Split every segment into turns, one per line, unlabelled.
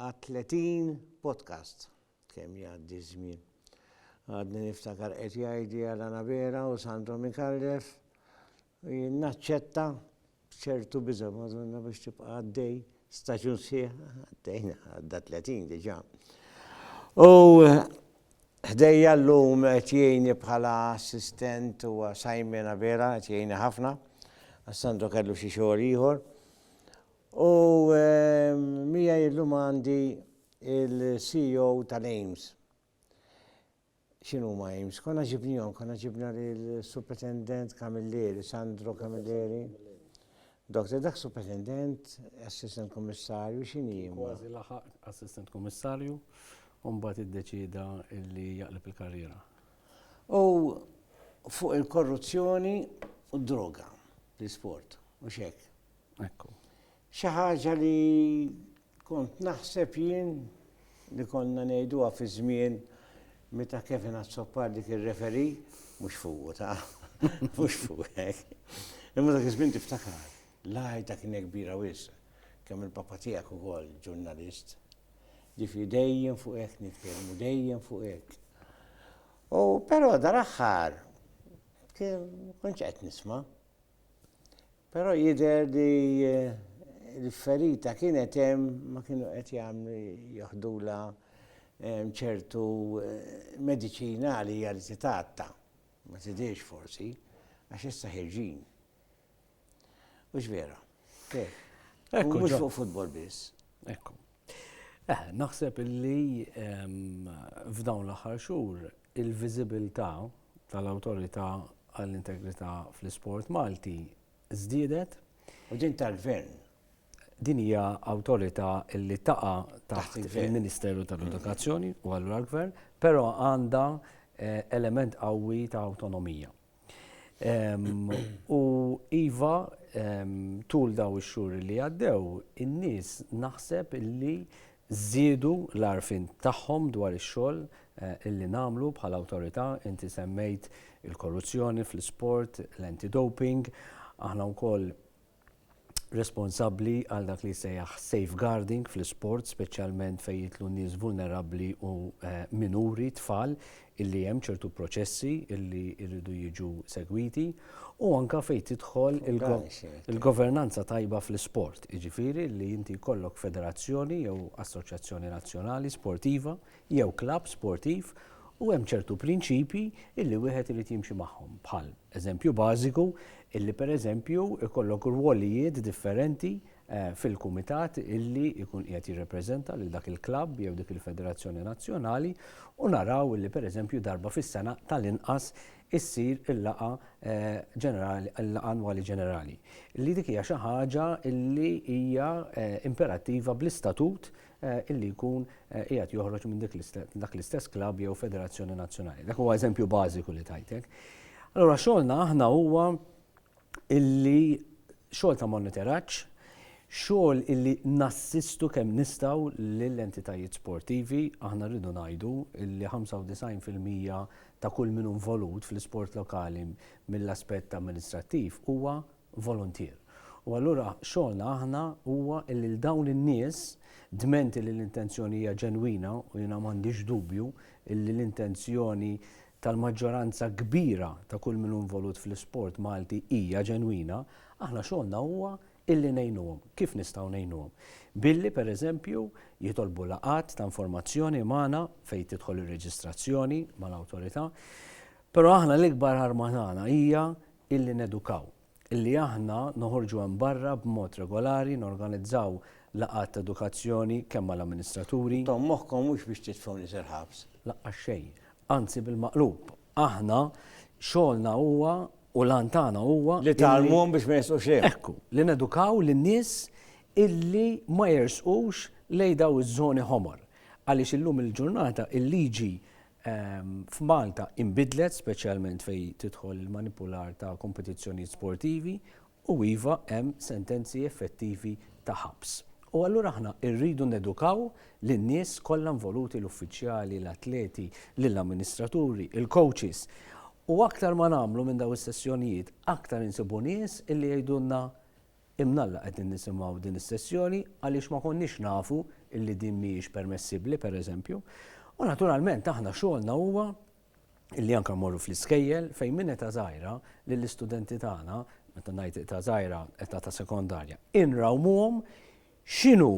Għad tletin podcast. Kemm jgħaddi ż-żmien. Għadni niftakar qed jgħidli għal Anabela u Sandro Micallef. Jien naċċetta b'ċertu biża' Madonna biex tibqa' għaddej staġun sħiħ għaddejna għadda tletin diġà. U Ħdejja l-lum tjeni bħala assistent u sajmena vera, tjeni ħafna, għassandu kellu xie xogħol ieħor. U miegħi illum għandi il-CEO tal-AIMS. X'inhuma AIMS? Konna ġibnihom, konna ġibna lill-Supretendent Camilleri, Sandro Camilleri. Doktor, dak Supretendent, Assistant Kummissarju, x'inhi hi? Kważi laħaq
Assistant Kummissarju u mbagħad iddeċieda li jaqleb il-karriera. U
fuq il-korruzzjoni u d-droga fl-isport, mhux hekk? Ekku.
Xi ħaġa
li kont naħseb jien li konna ngħiduha fi żmien meta Kevin Azzopardi kien referi, mhux fuq ta' mhux fuq hekk. Imma dak iż-żmien tiftakar, l-għajta kienet kbira wis, kemm il-papa tiegħek ukoll ġurnalist. Ġifi dejjem fuq hekk nitkellmu, dejjem fuq hekk. U però dal-aħħar kien konċ qed nisma'. Però jidher li l-ferita kienet hemm ma kienu qed jagħmlu joħdulha ċertu mediċina li hija li titgħatta. Ma tidhirx forsi, għax issa ħirġin. Hux vera?
Mhux fuq futbol
biss. Ekku.
Naħseb illi f'dawn l-aħħar xhur il-viżibilità tal-Awtorità għall-Integrità fl-Isport Malti żdiedet. U din
tal-Gvern? Din hija
awtorità li taqa' taħt il-Ministeru tal-Edukazzjoni u allura l-Gvern, però għandha element qawwi ta' awtonomija. U iva, tul daw ix-xhur li għaddew, in-nies naħseb li żiedu l-għarfien tagħhom dwar ix-xogħol li nagħmlu bħala awtorità. Inti semmejt il-korruzzjoni fl-isport, l-anti-doping. Aħna wkoll responsabbli għal dak li jsejjaħ safeguarding fl-isport, speċjalment fejn jitlu nies vulnerabbli u eh, minuri, tfal, illi hemm ċertu proċessi illi jridu jiġu segwiti u anka fejn tidħol il-governanza tajba fl-isport, jiġifieri li inti jkollok federazzjoni jew assoċjazzjoni nazzjonali sportiva jew klabb sportiv u hemm ċertu prinċipji illi wieħed irid jimxi magħhom bħal, eżempju bażiku, illi pereżempju jkollok rwolijiet differenti fil-kumitat illi jkun qiegħed jirrepreżenta lil dak il-klabb jew dik il-federazzjoni nazzjonali u naraw illi pereżempju darba fis-sena tal-inqas issir il-laqgħa ġenerali il-laqgħa annwali ġenerali. Li dik hija xi ħaġa illi hija imperattiva bl-istatut illi jkun qiegħed joħroġ minn dak l-istess klabb jew federazzjoni nazzjonali. Dak huwa eżempju bażiku li tajtek. Allura xogħolna aħna huwa illi xogħol ta' monitoraġġ, xogħol illi nassistu kemm nistgħu lill-entitajiet sportivi, aħna rridu ngħidu illi 95% ta' kull min involut fl-isport lokali mill-aspett amministrattiv huwa voluntier. U allura xogħolna aħna huwa illi 'l dawn in-nies, dment illi l-intenzjoni hija ġenwina, u jiena m'għandix dubju illi l-intenzjoni tal-maġġoranza kbira ta' kull min hu involut fl-isport Malti hija ġenwina, aħna xogħolna huwa illi ngħinuhom. Kif nistgħu ngħinuhom? Billi, per eżempju, jitolbu laqgħat ta' informazzjoni magħna fejn tidħol ir-reġistrazzjoni mal-Awtorità. Però aħna l-ikbar arma tagħna hija illi nedukaw, illi aħna noħorġu hemm barra b'mod regolari, norganizzaw laqgħat ta' edukazzjoni kemm mal-amministraturi. Intom moħħkom mhux
biex titfgħuni sal-ħabs. Laqqas xejn.
Anzi bil-maqlub. Aħna xogħolna huwa u l-għan tagħna huwa illi. Li tgħallmuhom biex ma
jersqux lejhom. Ekku, li nedukaw
lin-nies illi ma jersqux lejn dawn iż-żoni ħomor. Għaliex illum il-ġurnata il-liġi f'Malta inbidlet, speċjalment fejn tidħol il-manipular ta' kompetizzjonijiet sportivi u iva hemm sentenzi effettivi ta' ħabs. U allura aħna rridu nedukaw lin-nies kollha involuti, l-uffiċjali, l-atleti, lill-amministraturi, il-coaches. U aktar ma nagħmlu minn dawn is-sessjonijiet, aktar insibu nies illi jgħidulna Imnalla qegħdin nisimgħu din is-sessjoni għaliex ma konniex nafu illi din mhijiex permessibbli, per eżempju. U naturalment aħna xogħolna huwa illi anke mmorru fl-iskejjel fejn minn età żgħira lill-istudenti tagħna, meta ngħid età żgħira, età ta' sekondarja, inrawmuhom x'inhu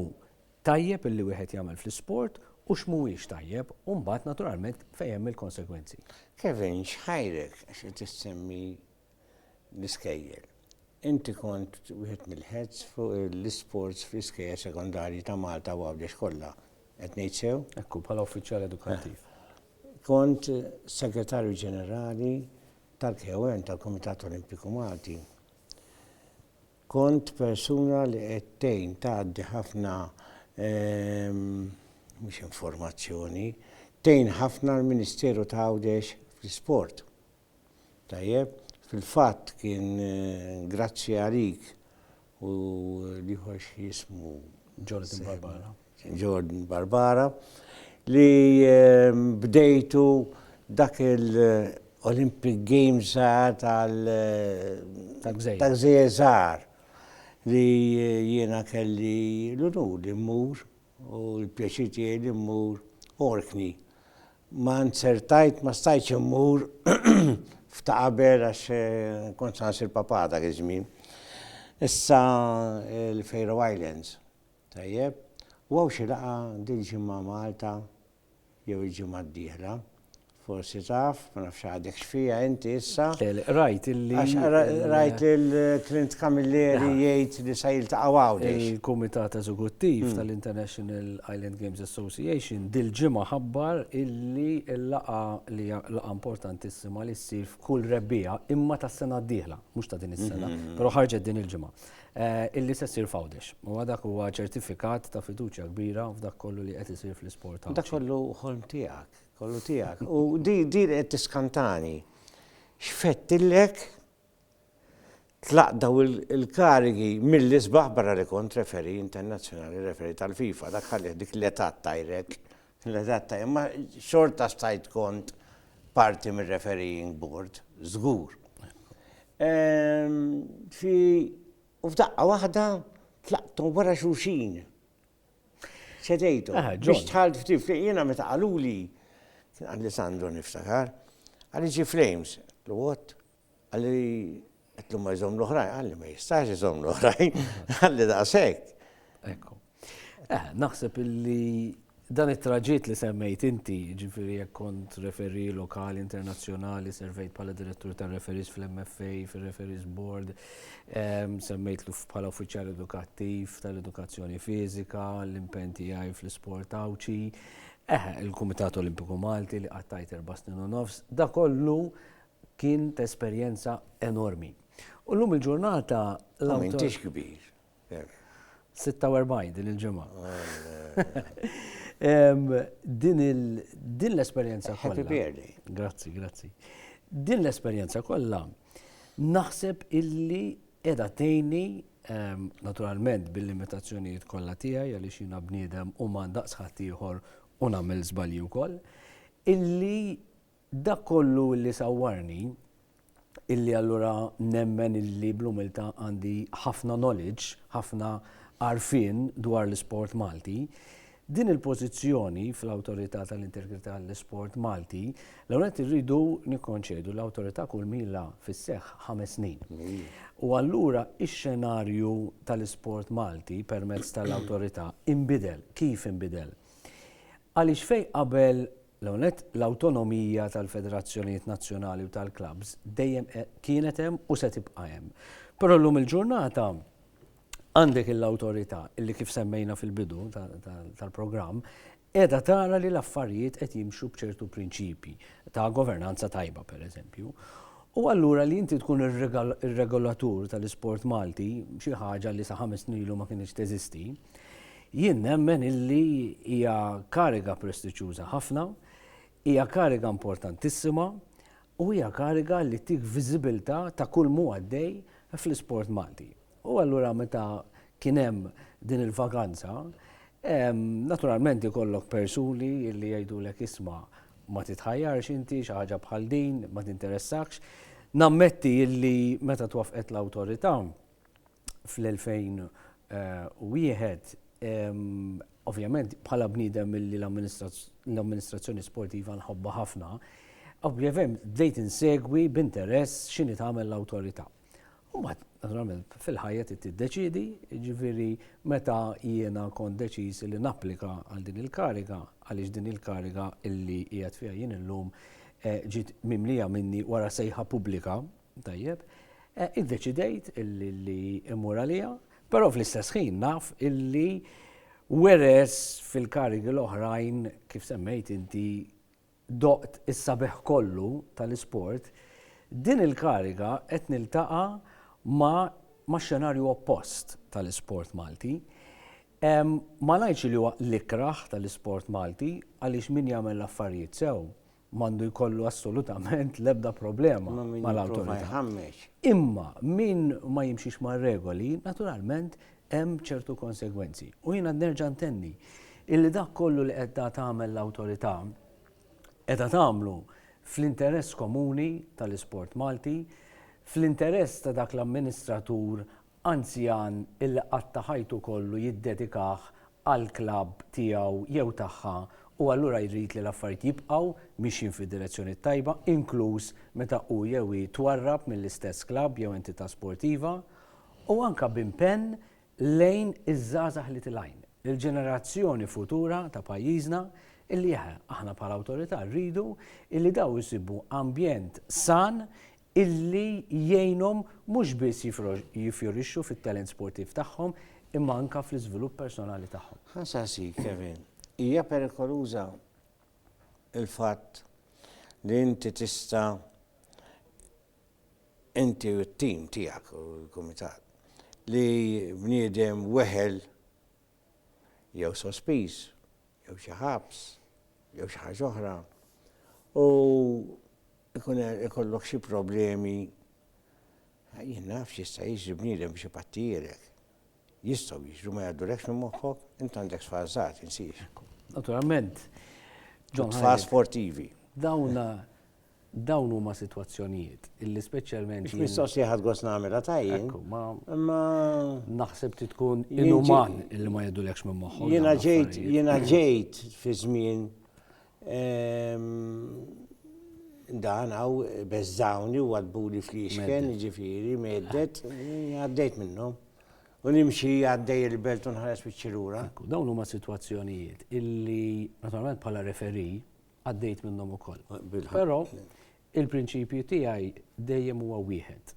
tajjeb illi wieħed jagħmel fl-isport u x'mhuwiex tajjeb u mbagħad naturalment fejn hemm il-konsegwenzi. Kevin,
x'ħajrek għax qed issemmi l-iskejjel. Inti kont wieħed mill-heads fuq l-isports fl-iskejjel sekondarji ta' Malta u Għawdex kollha, qed ngħid sew? Hekk hu, bħala uffiċjal
edukattiv. Kont
Segretarju Ġenerali tal-KOM, tal-Kumitat Olimpiku Malti. Kont persuna li qed tgħin tgħaddi ħafna mhux informazzjoni, tgħin ħafna l-Ministeru ta' Għawdex fl-isport. Tajjeb, fil-fatt kien grazzi għalik u l-ieħor x'jismu? Jordan Barbara. Jordan Barbara li bdejtu dak il-Olympic Games żgħar tal-gżejjer żgħar li jiena kelli l-unur li mmur u l-pjaċir tiegħi li mmur Orkney Ma nzertajt, ma stajtx immur f'ta' qabel għax kont sa nsir papà dak iż-żmien. Issa l-Faroe Islands. Tajjeb. U hawn xi laqgħa dil-ġimgħa Malta jew il-ġimgħa d-dieħla. Forsi taf, ma nafx għadek x'fiha inti issa. Le, le, qrajt illi.
Għax qrajt lil
Clint Camilleri jgħid li se jiltaqgħu Għawdex. Il-Kumitat Eżekuttiv
tal-International Island Games Association dil-ġimgħa ħabbar illi l-laqgħa li hija laqgħa importantissima li ssir f'kull Rebbiegħa imma tas-sena d-dieħla, mhux ta' din is-sena, però ħarġet din il-ġimgħa, illi se ssir f'Għawdex. Huwa dak huwa ċertifikat ta' fiduċja kbira f'dak kollu li qed isir fl-isport Għawdxi. Dak kollu ħolm
tiegħek, kollu tiegħek. U din qed tiskantani. X'fettillek Tlaqt dawn il-karigi mill-isbaħ barra li kont referee internazzjonali, referee tal-FIFA, dak ħallieh dik l-età ttajrek, l-età ttajrek, imma xorta stajt kont parti mir-refereeing board, żgur. Fi, u f'daqqa waħda tlaqthom wara xulxin. Ċedejthom. Biex dħalt f'Tifrem, jiena meta qaluli, kien Alessandro niftakar, qalli ġie Flames, l-għodd, Qal li qed ma jżomm l-oħrajn, qal li ma jistax iżomm l-oħrajn, qal li daqshekk. Ekku.
Eh, naħseb illi dan it-traġit li semmejt inti, ġifiri jekk kont referi lokali, internazzjonali, servejt bħala direttur ta' referis fl-MFA, fil-referis board, ehm, semmejt l bħala uffiċjal edukattiv tal-edukazzjoni fizika, l-impenti għaj fl-sport għawċi, eħe, eh, il-Kumitat Olimpiku Malti li għattajt erba snin u nofs, da kollu kien ta' esperjenza enormi. U llum il-ġurnata l-awtur. U m'intix
kbir. 46
din il-ġimgħa. Din l-esperjenza kollha. Happy birthday. Grazzi,
grazzi.
Din l-esperjenza kollha naħseb illi qiegħda tgħinni naturalment bil-limitazzjonijiet kollha tiegħi għaliex jiena bniedem u ma ndaqs ħaddieħor u nagħmel żbalji wkoll, illi Dak kollu illi sawwarni, illi allura nemmen illi bl-umiltà għandi ħafna knowledge, ħafna għarfien dwar l-isport Malti, din il-pożizzjoni fl-Awtorità tal-Integrità għall-Isport Malti, l-ewwel nett irridu nikkonċedu l-Awtorità kulmi ilha fis-seħħ ħames snin. U allura x-xenarju tal-isport Malti permezz tal-Awtorità inbidel. Kif inbidel? Għaliex fejn qabel L-ewwel nett, l-awtonomija tal-federazzjonijiet nazzjonali u tal-klabbs dejjem kienet hemm u se tibqa' hemm. Però llum il-ġurnata għandek il-awtorità li kif semmejna fil-bidu tal-programm qiegħda tara li l-affarijiet qed jimxu b'ċertu prinċipji ta' governanza tajba pereżempju. U allura li inti tkun ir-regolatur tal-isport Malti, xi ħaġa li sa ħames snin ilu ma kinitx teżisti, Jien nemmen illi hija kariga prestiġjuża ħafna, hija kariga importantissima u hija kariga li ttik viżibilità ta' kulmu għaddej fl-isport Malti. U allura meta kien hemm din il-vaganza, naturalment ikollok persuni illi jgħidulek isma' ma titħajjarx inti xi ħaġa bħal din, ma tinteressakx. Nammetti illi meta twaffqet l-awtorità, fl-2001, ovvjament bħala bniedem li l-amministrazzjoni sportiva nħobbha ħafna, ovvjament bdejt insegwi b'interess x'inhi tagħmel l-awtorità. U mbagħad, naturalment, fil-ħajja trid tiddeċiedi, jiġifieri meta jiena kont deċiż li napplika għal din il-kariga, għaliex din il-kariga li qiegħed fiha jien illum ġiet mimlija minni wara sejħa pubblika Tajjeb. Iddeċidejt li immur għaliha, però fl-istess ħin naf illi weres fil-karigi l-oħrajn kif semmejt inti doqt is-sabiħ kollu tal-isport, din il-kariga qed niltaqa' ma' xenarju oppost tal-isport Malti. Ma ngħidx li huwa l-ikrah tal-isport Malti għaliex min jagħmel l-affarijiet sew m'għandu jkollu assolutament l-ebda problema mal-awtorità. Imma min ma jimxix mar-regoli, naturalment hemm ċertu konsegwenzi. U jiena nerġa' ntenni illi dak kollu li qed tagħmel l-awtorità qiegħda tagħmlu fl-interess komuni tal-isport Malti, fl-interess ta' dak l-amministratur Anzjan illi qatta' ħajtu kollu jiddedikah għall-klabb tiegħu jew tagħha u allura jrid li l-affarijiet jibqgħu mixjin fid-direzzjoni t-tajba, inkluż meta hu jew hi twarrab mill-istess klabb jew entità sportiva, u anke b'impenn lejn iż-żgħażagħ li tilgħin, il-ġenerazzjoni futura ta' pajjiżna, illi eħe, aħna bħala Awtorità rridu illi dawn isibu ambjent san illi jgħinhom mhux biss jiffjorixxu fit-talent sportiv tagħhom imma anke fl-iżvilupp personali tagħhom. Ħa nsaqsik, Kevin,
hija perikoluża l-fatt li inti tista' inti u t-tim tiegħek u l-kumitat li bniedem weħel jew sospiż, jew xi ħabs, jew xi ħaġa oħra, u jkun ikollok xi problemi, jien naf x'jista' jiġri bniedem biex ipattijielek. Jistgħu jiġru ma jgħaddulekx minn moħħok, int għandek tfal żgħar tinsiex. Naturalment. Tfal sportivi. Dawna
Dawn huma sitwazzjonijiet illi speċjalment. Mhux mistoqsi li ħadd gost
nagħmilha ta' jien. Ekku, ma. Imma.
Naħseb trid tkun inuman illi ma jgħidulekx minn moħħhom. Jiena ġejt, jiena ġejt
fi żmien dan hawn beżżawni u għadbuli fl-ixken, jiġifieri meddet, għaddejt minnhom. U nimxi għaddej il-belt u nħares wiċċi lura. Dawn huma
sitwazzjonijiet illi naturalment bħala referi għaddejt minnhom ukoll. Però il-prinċipju tiegħi dejjem huwa wieħed.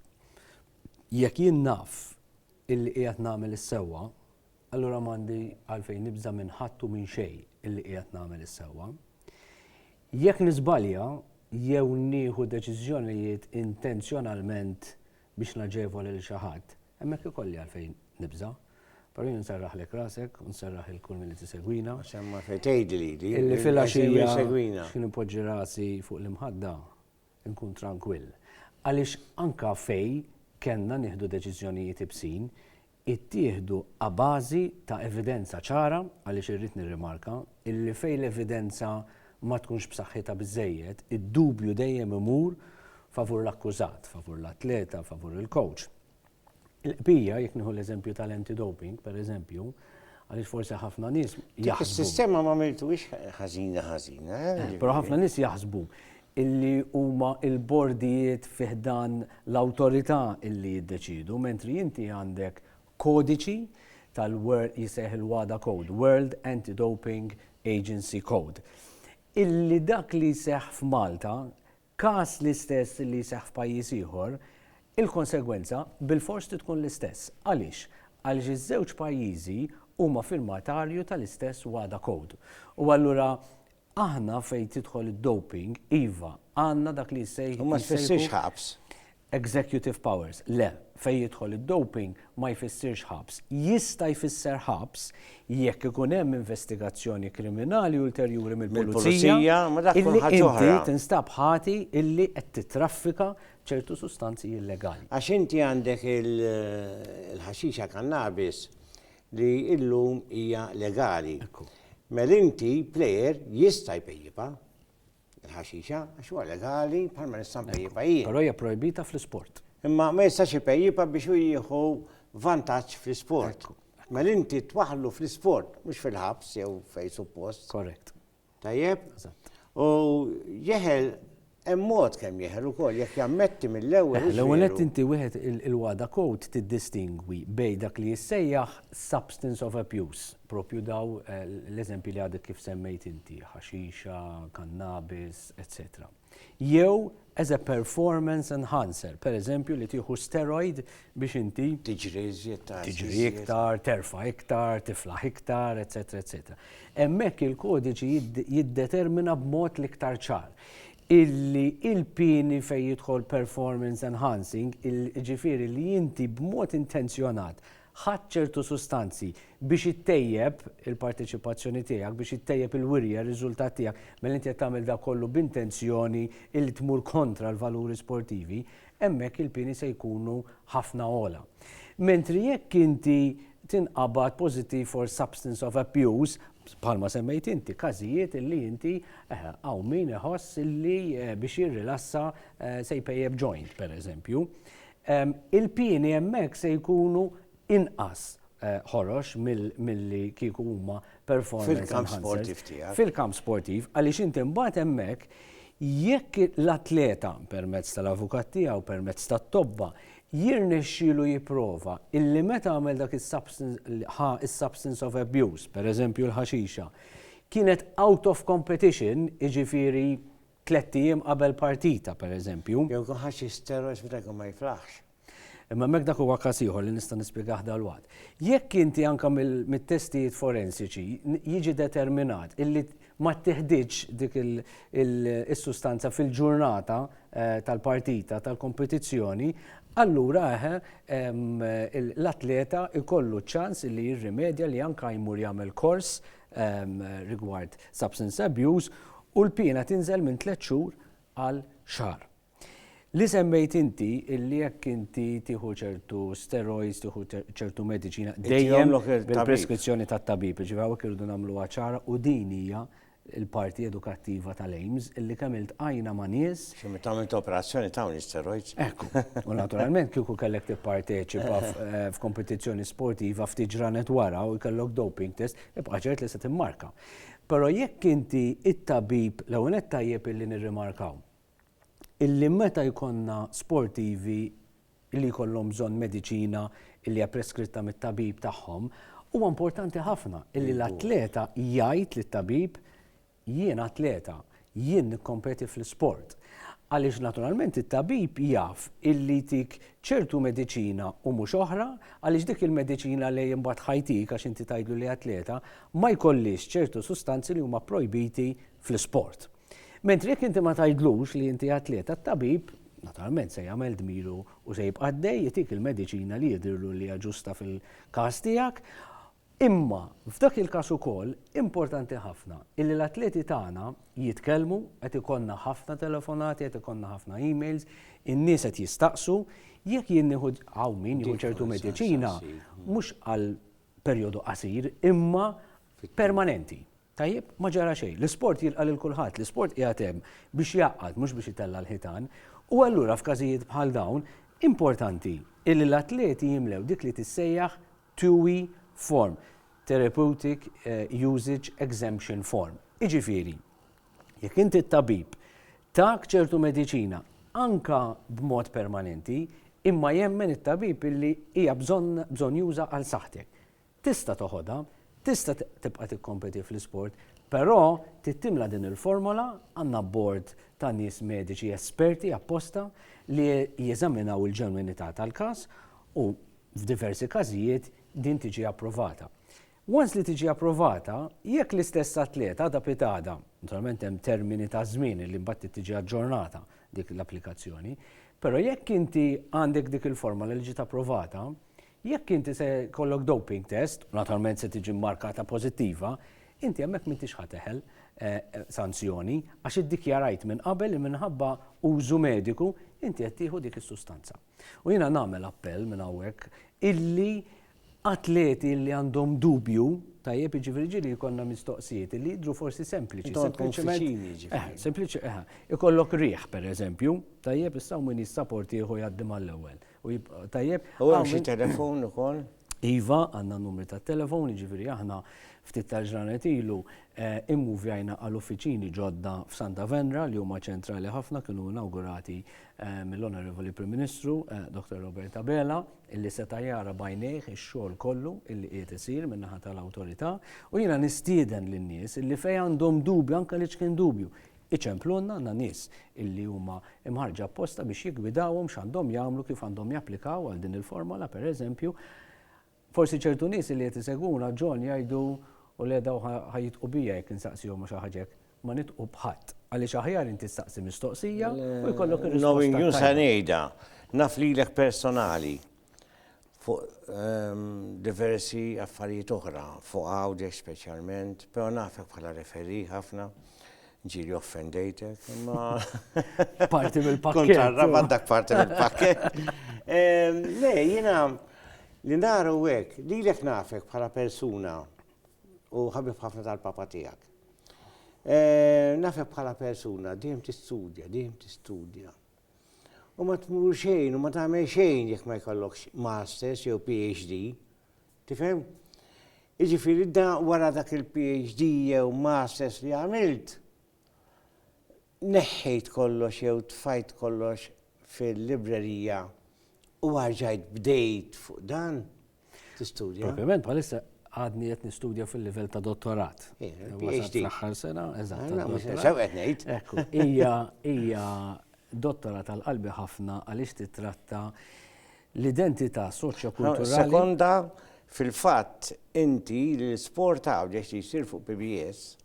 Jekk jien naf illi qiegħed nagħmel is-sewwa, allura m'għandi għalfejn nibża minn ħadd u minn xejn illi qiegħed nagħmel is-sewwa. Jekk niżbalja jew nieħu deċiżjonijiet intenzjonalment biex naġevol lil xi ħadd, Hemmhekk ikolli għalfejn nibża'. Però jien nserraħlek rasek u nserraħ lil kull min qed isegwina. Għax hemm għalfejn tgħidli
di. Illi filgħaxija
x'ħin inpoġġi rasi fuq l-imħadda, inkun trankwill. Għaliex anke fejn kellna nieħdu deċiżjonijiet ibsin, ittieħdu abażi ta' evidenza ċara, għaliex irrid nirrimarka illi fejn l-evidenza ma tkunx b'saħħitha biżżejjed, id-dubju dejjem imur favur l-akkużat, favur l-atleta, favur il-kowċ. Il-qbija, jekk nieħu l-eżempju tal-anti-doping, pereżempju, għaliex forsi ħafna nies jaħsbu. Is-sistema ma miltuwiex
ħażina ħażina. Eh, eh, però
ħafna nies jaħsbu illi huma il-bordijiet fiħdan l-awtorità illi jiddeċidu, mentri inti għandek kodiċi tal-World jissejjaħ il-WADA Code, World Anti-Doping Agency Code, illi dak li jseħħ f'Malta, każ l-istess li jseħħ f'pajjiż ieħor, il-konsegwenza bilfors trid tkun l-istess. Għaliex? Għaliex iż-żewġ pajjiżi huma firmatarju tal-istess WADA Code. U allura aħna fejn tidħol id-doping, iva, għandna dak li jissejħ. U ma tfissirx ħabs.
Executive
powers, le, fejn jidħol id-doping ma jfissirx ħabs. Jista' jfisser ħabs jekk ikun hemm investigazzjoni kriminali ulterjuri mill-pulizija illi inti tinstab ħati illi qed tittraffika b'ċertu sustanzi illegali. Għax inti għandek
il-ħaxixa kannabis li illum hija legali. Mela inti plejer jista' jpejjipha. Il-ħaxixa, għax huwa legali bħalma nista' npejjibha jien. Però hija
projbita
fl-isport. Imma ma jistax
ipejjibha
biex hu jieħu vantaġġ fl-isport. Mela inti twaħlu fl-isport, mhux fil-ħabs jew fej suppost. Korrekt.
Tajjeb?
U jeħel hemm mod kemm jeħel ukoll jekk jammetti mill-ewwel. L-ewwel qed inti wieħed
il-wada kod tiddistingwi bej dak li jissejjaħ substance of abuse. Proprju dawn l-eżempji li għadek kif semmejt inti, ħaxixa, kannabis, eċċetera. Jew as a performance enhancer, pereżempju li tieħu steroid biex inti tiġri iżjed tard, tiġri iktar, terfa' iktar, tiflaħ iktar, eċċetera, eċċetera. Hemmhekk il-kodiċi jiddetermina b'mod l-iktar ċar illi il-pieni fejn jidħol performance enhancing, jiġifieri li inti b'mod intenzjonat ħadt ċertu sustanzi biex ittejjeb il-parteċipazzjoni tiegħek, biex ittejjeb il-wirja, r-riżultat tiegħek, mela inti qed tagħmel dak kollu b'intenzjoni li tmur kontra l-valuri sportivi, hemmhekk il-pieni se jkunu ħafna ogħla. Mentri jekk inti tinqabad pożittiv for substance of abuse, bħalma semmejt inti, każijiet illi inti eh, hawn min iħoss illi eh, biex jirrilassa eh, se jpejjeb joint, pereżempju. il-pieni hemmhekk se jkunu inqas ħorox milli kieku huma performance enhancers. Fil-kamp sportiv tiegħek. Fil-kamp sportiv, għaliex inti mbagħad hemmhekk jekk l-atleta permezz tal-avukat tiegħu, permezz tat-tobba, jirnexxielu jipprova illi meta għamel dak is-substance of abuse, pereżempju l-ħaxixa, kienet out of competition, jiġifieri Tlett ijiem qabel partita, per eżempju. Jew ikun ħa xi steroids
meta jkun ma jiflaħx. Imma hemmhekk dak
huwa każ ieħor li nista' nispjegah dalwaqt. Jekk inti anke mit-testijiet forensiċi jiġi determinat illi ma ttiħditx dik is-sustanza fil-ġurnata tal-partita, tal-kompetizzjoni, allura eħe l-atleta jkollu ċ-ċans illi jirrimedja li anke jmur jagħmel kors rigward substance abuse u l-piena tinżel minn tliet xhur għal xahar. Li semmejt inti illi jekk inti tieħu ċertu steroids, tieħu ċertu mediċina dejjem bil-preskrizzjoni tat-tabib, ġifieri hawnhekk irridu nagħmluha ċara u din hija l-parti edukattiva tal-AIMS illi kemm iltqajna ma' nies Xi meta għamilt operazzjoni
tawni steroids. Ekku, u
naturalment kieku kellek tipparteċipa eh, f'kompetizzjoni sportiva ftit ġranet wara u jkellok doping test, ibqa' ċert li se timmarka. Però jekk inti it-tabib l-ewwel qed tajjeb illi nirrimarkaw illi meta jkollna sportivi li jkollhom bżonn mediċina illi hija preskritta mit-tabib tagħhom, huwa importanti ħafna illi l-atleta jgħid lit-tabib Jien atleta, jien nikkompeti fl-isport. Għaliex naturalment it-tabib jaf illi jtik ċertu mediċina u mhux oħra, għaliex dik il-mediċina li imbagħad ħa jtik għax inti tgħidlu li atleta, ma jkollhiex ċertu sustanzi li huma pprojbiti fl-isport. Mentri jekk inti ma tgħidlux li inti atleta, t-tabib naturalment se jagħmel dmiru u se jibqa' għaddej itik il-mediċina li jidhirlu li hija ġusta fil-każ tiegħek, Imma, f'dak il-każ ukoll, importanti ħafna illi l-atleti tagħna jitkellmu, qed ikollna ħafna telefonati, qed ikollna ħafna emails, in-nies qed jistaqsu, jekk jien nieħu, hawn min jieħu ċertu mediċina, mhux għal perjodu qasir, imma permanenti. Tajjeb? Ma ġara xejn. L-isport jilqa' lil kulħadd, l-isport qiegħed hemm biex jgħaqqad mhux biex itella' l-ħitan. U allura f'każijiet bħal dawn, importanti illi l-atleti jimlew dik li tissejjaħ TUE form, Therapeutic Usage Exemption Form. Jiġifieri, jekk inti t-tabib tak ċertu mediċina anke b'mod permanenti imma jemmen it-tabib illi hija bżonn bżonnjuża għal saħħtek, tista' toħodha, tista' tibqa' tikkompeti fl-isport, però trid timla din il-formola, għandna bord ta' nies mediċi esperti apposta li jeżaminaw il-ġenwinità tal-każ u F'diversi każijiet din tiġi approvata. Once li tiġi approvata, jekk l-istess atleta għadha pitgħada, naturalment hemm termini ta' żmien li mbagħad tiġi aġġornata dik l-applikazzjoni, però jekk inti għandek dik il-forma li ġiet approvata, jekk inti se jkollok doping test, u naturalment se tiġi mmarkata pożittiva, inti hemmhekk m'intix ħa teħel sanzjoni għax iddikjarajt minn qabel li minħabba użu mediku inti qed tieħu dik is-sustanza. U jiena nagħmel appell minn hawnhekk illi atleti li għandhom dubju, tajjeb jiġifieri ġieli jkollna mistoqsijiet li jidhru forsi sempliċi. Sempliċi, eħa. Ikollok riħ, pereżempju, tajjeb issa min jissaport ieħu jgħaddi mal-ewwel. Tajjeb. U hemm xi
telefon ukoll? Iva, għandna
n-numri tat-telefon, jiġifieri aħna ftit tal-ġranet ilu immuvjajna għal uffiċini ġodda f'Santa Venra li huma ċentrali ħafna kienu inawgurati mill-Onorevoli Prim Ministru Dr. Robert Abela illi seta' jara bajnejh ix-xogħol kollu illi qiegħed isir min-naħa tal-awtorità u jiena nistieden lin-nies illi fejn għandhom dubju anke li x'kien dubju Iċemplunna għandna nies illi huma mħarrġa apposta biex jiggwidawhom x'għandhom jagħmlu, kif għandhom japplikaw għal din il-formola, pereżempju. Forsi ċertu nies illi qed isegwuna ġon jgħidu, U le daw ħa jitqu bija jekk insaqsihom għax ħaġa hekk. Ma nitqu b'ħadd, għaliex aħjar inti staqsi mistoqsija u jkollok ir-risposta. Knowing you se ngħidha,
naf lilek personali. fuq diversi affarijiet oħra, fuq Għawdex speċjalment, però nafek bħala referee ħafna, ġieli offendejtek, imma. Parti
mill-pakket. Kont għarrabat dak parti
mill-pakket. Le, jiena li naru hekk, lilek nafek bħala persuna u ħabib ħafna tal-papa tiegħek. Nafek bħala persuna, dejjem tistudja, dejjem tistudja. U ma tmur xejn u ma tagħmel xejn jekk ma jkollokx masters jew PhD. Tifhem? Jiġifieri da wara dak il-PhD jew masters li għamilt neħħejt kollox jew tfajt kollox fil-librerija u għarġajt bdejt fuq dan. tistudja. Propjament bħalissa
għadni qed nistudja fil-livell ta' dottorat. PhD.
Aħħar sena,
eżatt. Sew qed ngħid.
Ekku, hija
hija dottora tal-qalbi ħafna għaliex titratta l-identità soċjokulturali. Sekonda
fil-fatt inti l-sport għawdex li jsir fuq PBS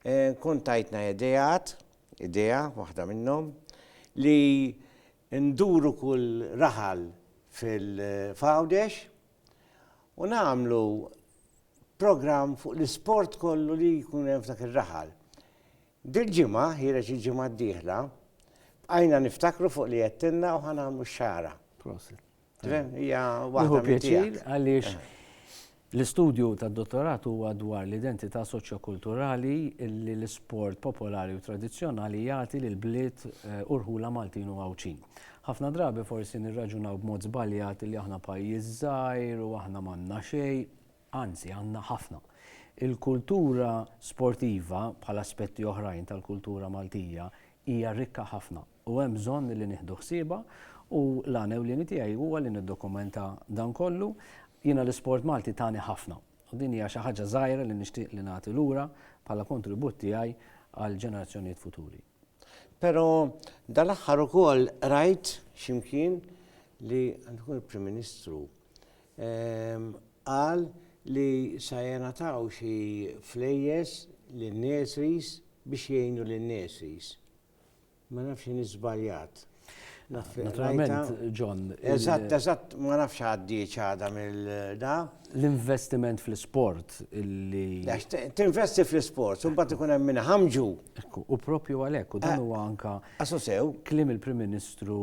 eh, kont tajtna ideat, idea waħda minnhom li Induru kull raħal fil-Fgħawdex u nagħmlu programm fuq l-isport kollu li jkun hemm f'dak ir-raħal. Dil-ġimgħa, ħiereġ il-ġimgħa d-dieħla, bqajna niftakru fuq li għedtilna u ħa nagħmlu x-xagħra. Prosit. Hija waħda pjaċir għaliex
eh. l-istudju tad-dottorat huwa dwar l-identità soċjokulturali li l-isport popolari u tradizzjonali jagħti lil bliet eh, u rħula Maltin u Għawdxin. Ħafna drabi forsi nirraġunaw b'mod żbaljat li aħna pajjiż żgħir u aħna m'għandna xejn, anzi għandna ħafna il-kultura sportiva bħal aspetti oħrajn tal-kultura Maltija hija rikka ħafna. u hemm bżonn li nieħdu ħsiebha u l-għan ewlieni tiegħi huwa li niddokumenta dan kollu. Jiena l-isport Malti tani ħafna u din hija xi ħaġa żgħira li nixtieq li nagħti lura bħala kontribut tiegħi għall-ġenerazzjonijiet futuri. Però
dal-aħħar ukoll rajt x'imkien li għandu jkun il-Prim Ministru ehm, qal li sa jenataw xi flejjes lin-nesis biex jgħinu lin-nesis. Ma nafx inhi żbaljat. Naturalment,
John. Eżatt, eżatt,
ma nafx għaddiex għadha mill-da. L-investiment
fl-isport illi. Tinvesti
fl-isport, u mbagħad ikun hemm minn ħamġu. U propju
għalhekk, u dan huwa anka. Asosew. Klim
il-Prim
Ministru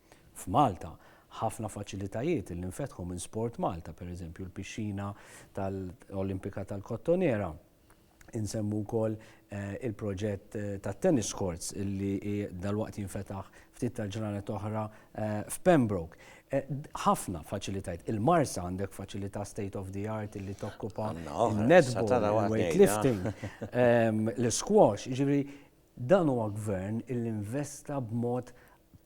F'Malta, ħafna faċilitajiet li nfetħu minn SportMalta, pereżempju l-pixxina tal-Olimpika tal-Kottonera, insemmu wkoll il-proġett tat-tennis courts li dalwaqt jinfetaħ ftit tal-ġranet oħra f'Pembroke. Ħafna faċilitajiet. Il-Marsa għandek faċilità state of the art li tokkupa n-netball, il-weightlifting, l-squash, jiġifieri Dan huwa Gvern illi investa b'mod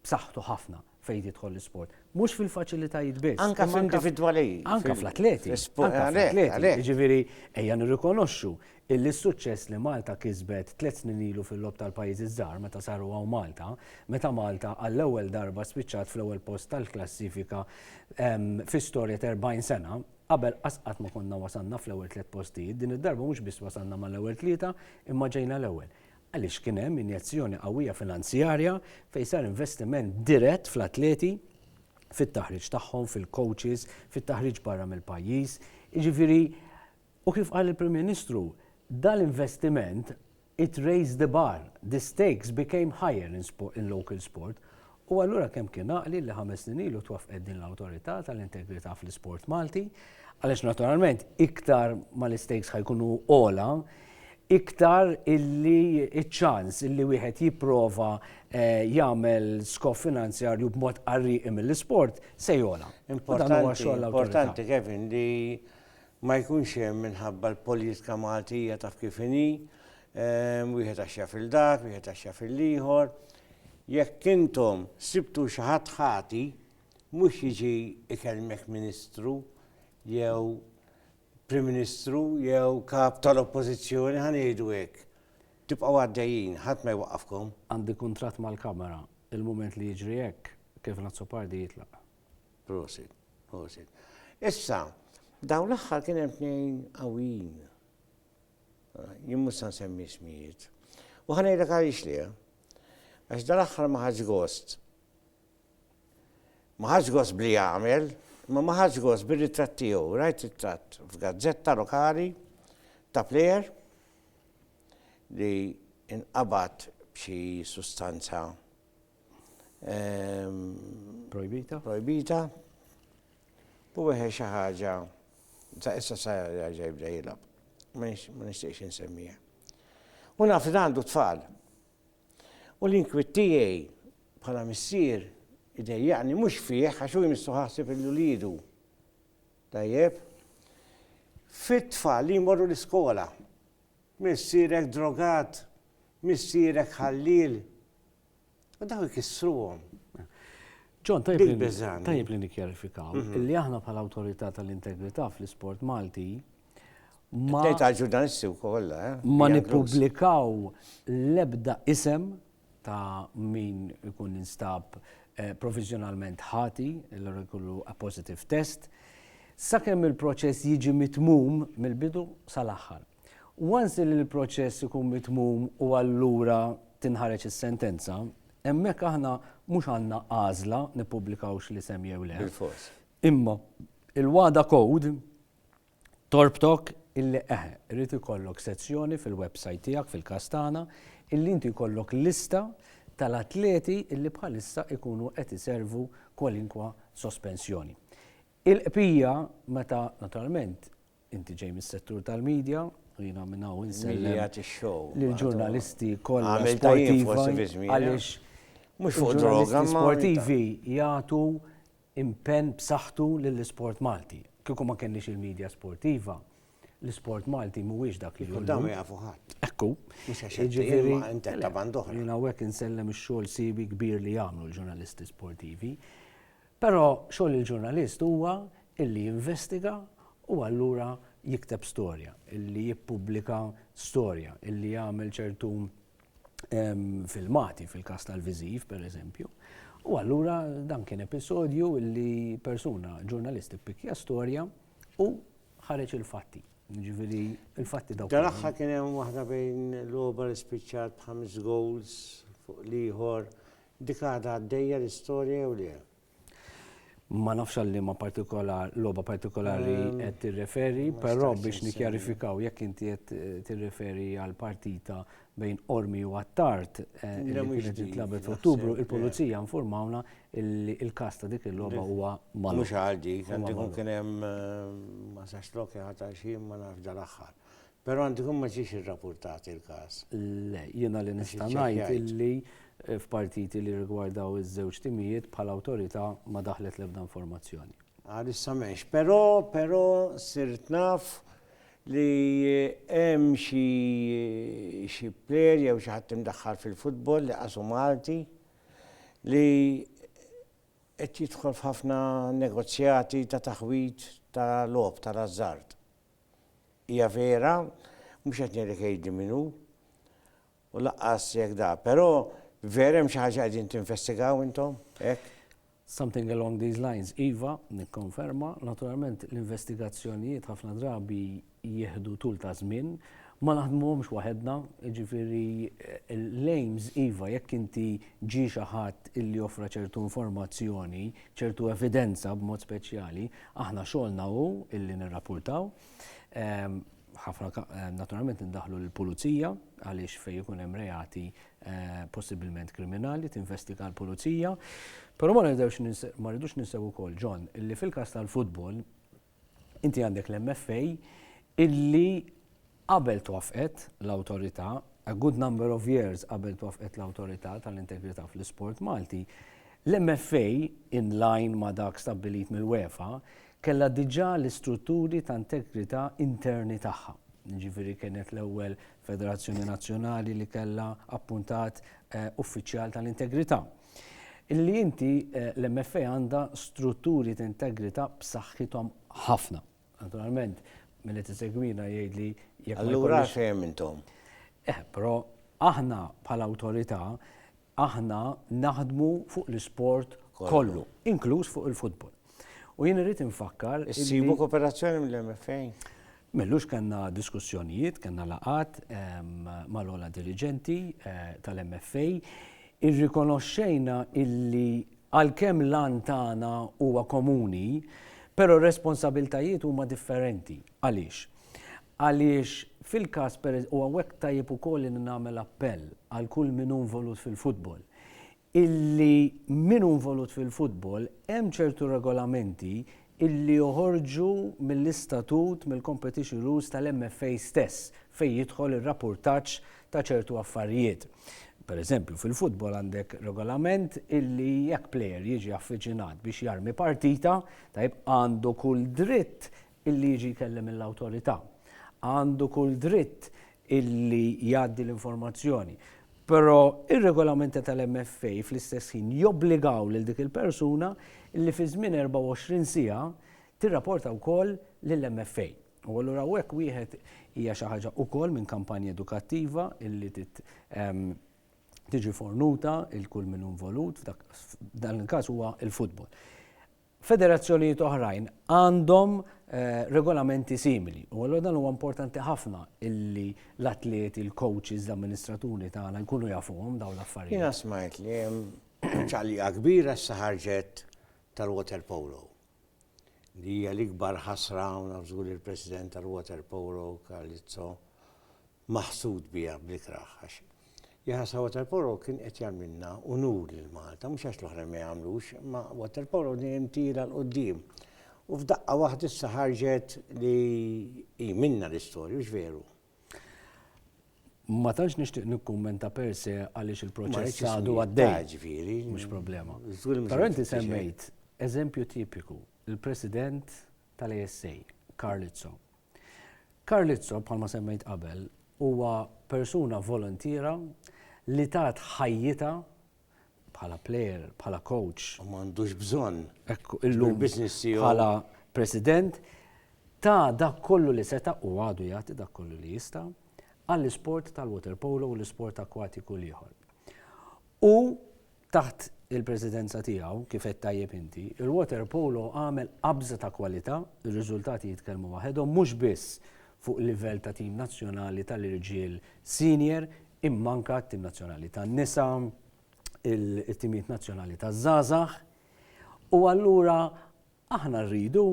b'saħħtu ħafna fejn jidħol l-isport. Mhux fil-faċilitajiet biss. Anke fl-individwali.
Anke fl-atleti.
Jiġifieri ejja nirrikonoxxu illi s-suċċess li Malta kisbet tliet snin ilu fil-Logħob tal-Pajjiżi ż-Żgħar meta saru hawn Malta, meta Malta għall-ewwel darba spiċċat fl-ewwel post tal-klassifika fi storja t'erbgħin sena, Qabel qasqatt ma konna wasalna fl-ewwel tliet postijiet, din id-darba mhux biss wasalna mal-ewwel tlieta imma ġejna l-ewwel. Għaliex kien hemm injezzjoni qawwija finanzjarja fejn sar investiment dirett fl-atleti, fit-taħriġ tagħhom, fil-coaches, fit-taħriġ barra mill-pajjiż. Jiġifieri, u kif qal il-Prim Ministru, dal-investiment It raised the bar, the stakes became higher in in local sport u allura kemm kien għaqli li ħames snin ilu twaffqet din l-Awtorità tal-Integrità fl-Isport Malti għaliex naturalment iktar ma l-istakes ħa jkunu ogħla iktar illi ċ-ċans illi wieħed jipprova jagħmel skof finanzjarju b'mod qarrieqi mill-isport se jogħla. Importanti,
importanti Kevin li ma jkunx hemm minħabba l-politika Maltija taf kif inhi, wieħed għax jaf il dak, wieħed għax jaf il ieħor. Jekk intom sibtu xi ħadd ħati, mhux jiġi ikellmek Ministru jew Prim Ministru jew kap tal-Oppożizzjoni ħa ngħidu hekk. Tibqgħu għaddejjin, ħadd ma jwaqqafkom. Għandi kuntratt
mal-Kamra, il-mument li jiġri hekk, Kevin Azzopardi jitlaq. Prosit,
prosit. Issa, dawn l-aħħar kien hemm tnejn qawwin. Jien mhux se nsemmi smijiet. U ħanejlek għaliex li għax dal-aħħar ma ħaġ gost. Ma ħaġ gost bli jagħmel, ma ma ħaġ gost bir-ritratt tiegħu, rajt ritratt f'gazzetta lokali ta' plejer li inqabad b'xi sustanza projbita. Projbita. U weħe xi ħaġa ta' issa sa ġej bda jilgħab. Ma nixtieqx insemmija. U naf li għandu tfal. U l-inkwit tiegħi bħala missier idejjaqni mhux fih għax hu jmissu ħasib il-ulidu. Tajjeb. Fit-tfal li jmorru l-iskola. Missierek drogat, Missierek ħalliel, u daw ikissruhom.
John, tajjeb li nikkjarifikaw li aħna bħala Awtorità tal-Integrità fl-Isport Malti ma ġurnalisti wkoll, eh? Ma nippubblikaw l-ebda isem ta' min ikun instab eh, provizjonalment ħati, l jkollu a positive test, sakemm il-proċess jiġi mitmum mill-bidu sal-aħħar. Once li l-proċess ikun mitmum u allura tinħareġ is-sentenza, hemmhekk aħna mhux għandna għażla nippubblikawx l-isem jew le. Bilfors. Imma il-WADA Code torbtok illi eħe, rrid ikollok sezzjoni fil-website tiegħek fil-każ tagħna illi inti jkollok lista tal-atleti illi bħalissa ikunu qed iservu kwalinkwa sospensjoni. Il-qpija meta naturalment Inti ġej mis-settur tal-media u jiena minn hawn insellem lill-ġurnalisti kollha sportivi għaliex mhux fuq
droga ma sportivi
jagħtu impenn b'saħħtu lill-isport Malti. Kieku ma kenniex il-media sportiva, l-isport Malti mhuwiex dak li hu. Dan ma jafu ħadd. Ekku.
Mhux għax
jiġifieri
inti ta' band oħra. Jiena hawnhekk insellem
ix-xogħol siewi kbir li jagħmlu l-ġurnalisti sportivi. Però xogħol il-ġurnalist huwa illi jinvestiga u allura jikteb storja, illi jippubblika storja, illi jagħmel ċertu filmati fil-każ tal-viżiv pereżempju. U allura dan kien episodju illi persuna ġurnalist ippikkja storja u ħareġ il-fatti. Ġifieri il-fatti dawk. Dal-aħħar kien hemm waħda
bejn l-Obar spiċċat b'ħames goals fuq l-ieħor Dik għadha għaddejja l-istorja jew le?
Ma nafx għal liema partikolar, logħba partikolari qed tirreferi, però biex nikkjarifikaw jekk inti qed tirreferi għal partita bejn Qormi u Attard li kienet tintlagħbet f'Ottubru, il-Pulizija nfurmawna li l-każ ta' dik il-logħba huwa magħluq. Mhux għal dik, għandu jkun
kien hemm ma sax lok jagħta xi ma nafx dal-aħħar. Però għandu jkun ma ġiex irrapurtat il-każ. Le, jiena li
nista' ngħid illi f'partiti li jirrigwardaw iż-żewġ timijiet bħala awtorità ma daħlet l-ebda informazzjoni. Għalissa m'hemmx.
Però, però sirt naf li hemm xi xi player jew xi ħadd imdaħħal fil-futbol li qasu Malti li qed jidħol f'ħafna negozjati ta' taħwid ta' logħob tal-ażżard. Hija vera, mhux qed ngħidlek għidli min hu, u laqqas jekk da. Però vera hemm xi ħaġa qegħdin tinvestigaw intom? Hekk? Something
along these lines, iva, nikkonferma. Naturalment l-investigazzjonijiet ħafna drabi jieħdu tul ta' żmien, ma naħdmuhomx waħedna, jiġifieri l-aims iva jekk inti ġie xi ħadd illi offra ċertu informazzjoni, ċertu evidenza b'mod speċjali, Aħna xogħolna hu illi nirrapurtaw. Ħafna naturalment indaħħlu lill-pulizija għaliex fejn ikun hemm reati possibilment kriminali tinvestiga l-pulizija. Però ma nidewx ma rridux ninsew ukoll John illi fil-każ tal-futbol inti għandek l-MFA illi Qabel twaffqet l-Awtorità, a good number of years qabel twaffqet l-Awtorità tal-Integrità fl-Isport Malti, l-MFA, in line ma' dak stabbilit mill-UEFA, kellha diġà l-istrutturi ta' integrità interni tagħha. Jiġifieri kienet l-ewwel federazzjoni nazzjonali li kellha appuntat uffiċjal tal-integrità. Illi inti l-MFA għandha strutturi ta' integrità b'saħħithom ħafna. Naturalment, mill tisegwina jgħid li jekk. Allura xejn intom.
Eh, però
aħna bħala awtorità aħna naħdmu fuq l-isport kollu, inkluż fuq il-futbol. U jien irrid infakkar. Issibu kooperazzjoni
mill-MFA? Mellux
kanna diskussjonijiet, kanna laqat ehm, mal-ola dirigenti eh, tal-MFA, irrikonoxxejna illi Għalkemm l-għan tagħna huwa komuni, però r-responsabiltajiet huma differenti. Għaliex? Għaliex fil-każ per, u hawnhekk tajjeb ukoll li nagħmel appell għal kull min hu involut fil-futbol, illi min hu involut fil-futbol hemm ċertu regolamenti illi joħorġu mill-istatut, mill-competition rules tal-MFA stess, fejn jidħol ir-rappurtaġġ ta' ċertu affarijiet. Per eżempju, fil-futbol għandek regolament illi jekk plejer jiġi affiċinat biex jarmi partita, tajjeb, għandu kull dritt illi jiġi jkellem lill-awtorità. Għandu kull dritt illi jgħaddi l-informazzjoni. Però r-regolamenti tal-MFA fl-istess ħin jobbligaw lil dik il-persuna illi fi żmien 24 siegħa tirrapporta wkoll lill-MFA. U allura hawnhekk wieħed hija xi ħaġa wkoll minn kampanja edukattiva illi trid tiġi fornuta lil kull min hu involut, f'dan il-każ huwa l-futbol. Federazzjonijiet oħrajn għandhom regolamenti simili u allura dan huwa importanti ħafna illi l-atleti, il-coaches, l-amministraturi tagħna jkunu jafuhom dawn l-affarijiet. Jiena smajt li hemm
ċaqliqa kbira issa ħarġet tal-water polo li hija l-ikbar ħasra u naf żgur li l-President tal-water polo Carlizzo maħsud biha bl-ikrah għax Johannes ta' Waterpolo kien qed jagħmilna unur lil Malta, mhux għax l-oħrajn ma jagħmlux, imma Waterpolo dejjem tira 'l quddiem. U f'daqqa waħda issa ħarġet li hi minnha l-istorja, hux veru? Ma
tantx nixtieq nikkummenta per se għaliex il-proċess għadu għaddej. Ġifieri. Mhux problema. Però inti semmejt eżempju tipiku, il-President tal-ASA, Karlizzo, Carlizzo, bħalma semmejt qabel, huwa persuna voluntiera li tat ħajjitha bħala player, bħala coach. U m'għandux bżonn.
Ekku, illum
bħala president ta' dak kollu li seta' u għadu jagħti dak kollu li jista' għall-isport tal-water polo u l-isport akwatiku l-ieħor. U Taħt il-Presidenza tiegħu, kif għedt tajjeb inti, il-waterpolo għamel qabża ta' kwalità, ir-riżultati jitkellmu waħedhom mhux biss fuq livell ta' tim nazzjonali tal-irġiel senior imma anke t-tim nazzjonali tan-nisa, it-timijiet nazzjonali taż-żgħażagħ. U allura aħna rridu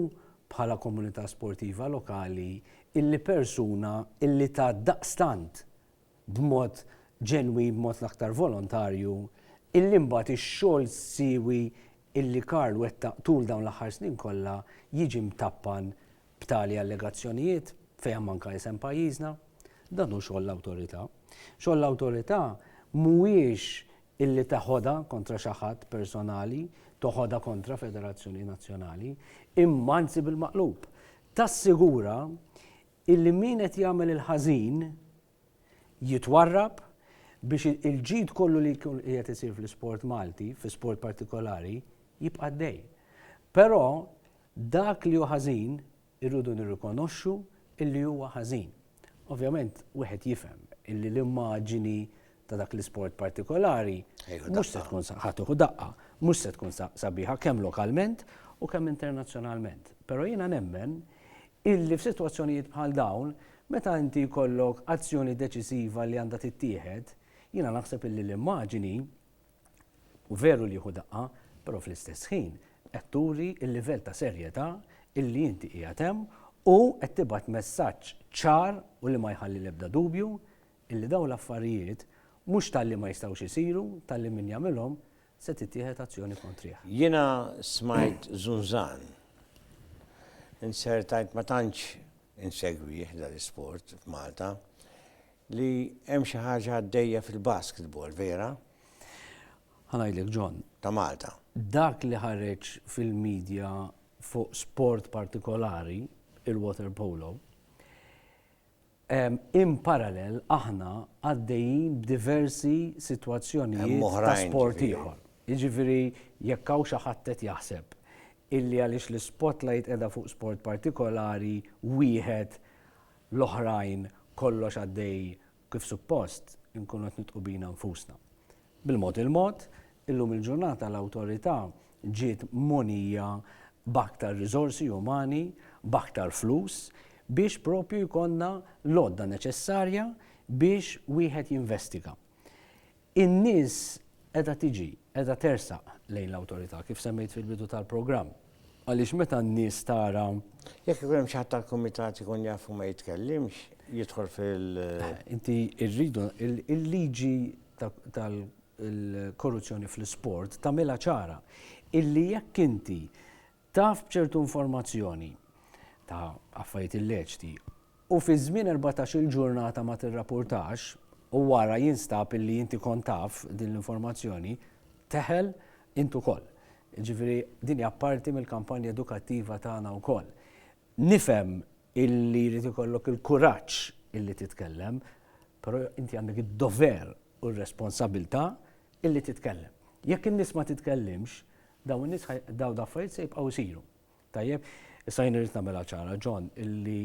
bħala komunità sportiva lokali illi persuna illi tat daqstant b'mod ġenwin, b'mod l-aktar volontarju, illi mbagħad ix-xogħol siewi illi Karl wettaq tul dawn l-aħħar snin kollha jiġi mtappan b'tali allegazzjonijiet fejn hemm anke isem pajjiżna. Dan hu xogħol l-awtorità. Xogħol l-awtorità mhuwiex illi teħodha kontra xi ħadd personali, toħodha kontra federazzjoni nazzjonali, imma anzi bil-maqlub, tassigura Illi min qed jagħmel il-ħażin jitwarrab biex il-ġid kollu li qiegħed isir fl-isport Malti, fi sport partikolari, jibqa' għaddej. Però dak li hu ħażin irridu nirrikonoxxu illi huwa ħażin. Ovvjament wieħed jifhem illi l-immaġini ta' dak l-isport partikolari, mhux se tkun
ħatuħu
daqqa, mhux se tkun sabiħa kemm lokalment u kemm internazzjonalment. Però jiena nemmen illi f'sitwazzjonijiet bħal dawn, meta inti jkollok azzjoni deċisiva li għandha tittieħed, jiena naħseb illi l-immaġini u veru li jieħu daqqa, però fl-istess ħin qed turi l-livell ta' serjetà illi inti qiegħed hemm u qed tibgħat messaġġ ċar u li ma jħalli l-ebda dubju Illi dawn l-affarijiet, mhux talli ma jistgħux isiru, talli min jagħmilhom, se tittieħed azzjoni kontrih. Jiena
smajt żunżan. Inzertajt ma tantx insegwih dan l-isport f'Malta, li hemm xi ħaġa għaddejja fil-basketball, vera? Ħa
ngħidlek John. Ta' Malta.
Dak li ħareġ
fil-medja fuq sport partikolari, il-water polo, In parallel aħna għaddejjin b'diversi sitwazzjonijiet ta' sport
ieħor.
Jiġifieri jekk hawn xi ħadd qed jaħseb illi għaliex l-spotlight qiegħda fuq sport partikolari wieħed l-oħrajn kollox għaddej kif suppost, inkunu qed nidħqu bina nfusna. Bil-mod il-mod, illum il-ġurnata l-Awtorità ġiet mogħnija b'aktar riżorsi umani, b'aktar flus, biex proprju jkollna l-għodda neċessarja biex wieħed jinvestiga. In-nies qiegħda tiġi, qiegħda tersaq lejn l-Awtorità, kif semmejt fil-bidu tal-programm. Għaliex meta n-nies tara. Jekk ikun hemm xi
ħadd tal-kumitat ikun jaf u ma jitkellimx, jidħol fil. Inti
rridu il-liġi tal-korruzzjoni fl-isport tagħmilha ċara illi jekk inti taf b'ċertu informazzjoni ta' affarijiet illeċti u fi żmien erbatax-il ġurnata ma tirrapurtax u wara jinstab illi inti kont taf din l-informazzjoni, teħel int ukoll. Jiġifieri din hija parti mill-kampanja edukattiva tagħna wkoll. Nifhem illi jrid ikollok il-kuraġġ illi titkellem, però inti għandek id-dover u r-responsabilità illi titkellem. Jekk in-nies ma titkellimx, dawn in-nies dawn l-affarijiet se jibqgħu jsiru. Tajjeb, issa jien irrid nagħmilha ċara, John, illi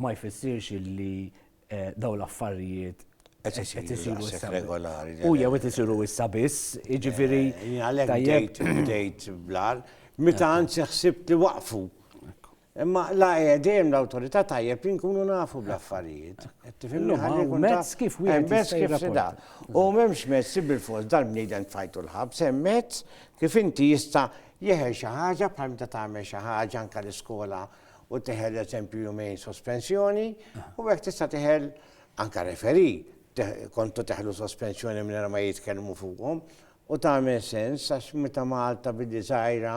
ma jfissirx illi dawn l-affarijiet qed
isiru issa regolari.
U jew qed
isiru
issa biss, jiġifieri. Għalhekk bdejt
bdejt blar, meta anzi ħsibt li waqfu. Imma la dejjem l-awtorità tajjeb li nkunu nafu bl-affarijiet. Tifhimni ħalli kun
mezz kif wieħed mezz kif sida. U m'hemmx mezz
bil-fors dal-bniedem tfajtu l-ħabs, hemm mezz kif inti jista' Jeħel xi ħaġa bħal meta tagħmel xi ħaġa anke l-iskola u teħel eżempju jumejn sospensjoni u hekk tista' teħel anke referi kontu teħlu sospensjoni minn ma jitkellmu fuqhom u tagħmel sens għax meta Malta billi żgħira